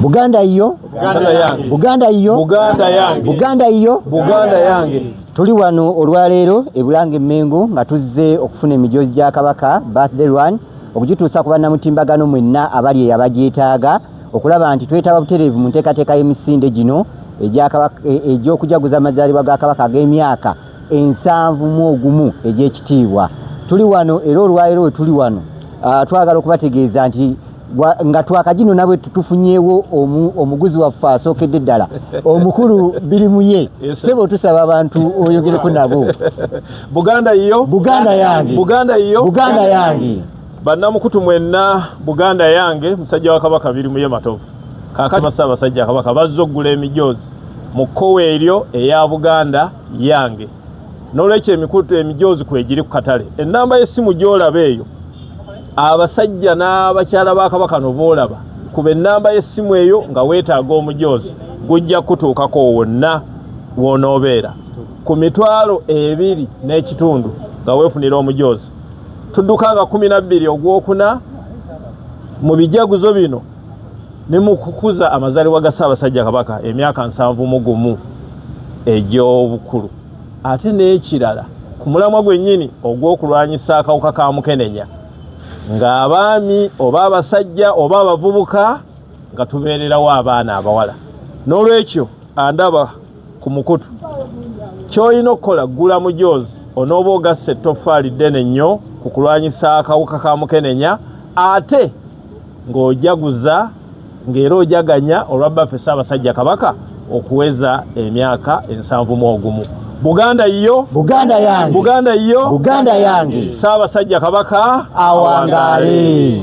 buganda yiyo buganda yiyo buganda yiyo buganda yange tuli wano olwaleero ebulanga emmengo nga tuzze okufuna emijoozi gya kabaka birthday run okugituusa ku bannamutimbagano mwenna abali eyabagyetaaga okulaba nti twetaba butereevu mu nteekateeka y'emisinde gino e, egy'okujaguza amazaalibwa ga kabaka ag'emyaka ensanvu mu ogumu egy'ekitiibwa tuli wano era olwaleero we tuli wano ah, twagala okubategeeza nti nga twakagino nabwe tutufunyewo omuguzi waffe asookedde ddala omukulu biri muye sebo tusaba abantu oyogereko nabo buganda yiyo buganda yange buganda yiyo buganda yange bannamukutu mwenna buganda yange musajja wa kabaka biri muye matovu kakati basa abasajja kabaka bazza okugula emijoozi mu kkowa eryo eya buganda yange n'olwekyo emikutu emijoozi kwegiri ku katale ennamba y'essimu gy'olaba eyo abasajja n'abakyala ba kabaka no boolaba kuba ennamba y'essimu eyo nga weetaaga omujoozi gujja kutuukako wonna w'onoobeera ku mitwalo ebiri n'ekitundu nga weefunira omujoozi tudduka nga kumi na bbiri ogwokuna mu bijaguzo bino ne mu kukuza amazaalibwa ga ssaabasajja kabaka emyaka nsanvu mu gumu egy'obukulu ate n'ekirala ku mulamwa gwennyini ogw'okulwanyisa akawuka ka mukenenya ng'abaami oba abasajja oba abavubuka nga tubeererawo abaana abawala n'olwekyo andaba ku mukutu ky'olina okukola ggula mujoozi onooba ogassa ettoffaali ddene nnyo ku kulwanyisa akawuka ka mukenenya ate ng'ojaguza ng'era ojaganya olwa bbaffe ssaabasajja kabaka okuweza emyaka ensanvu mu ogumu buganda yiyo buganda yange buganda yiyo buganda yange ssaabasajja kabaka awangaale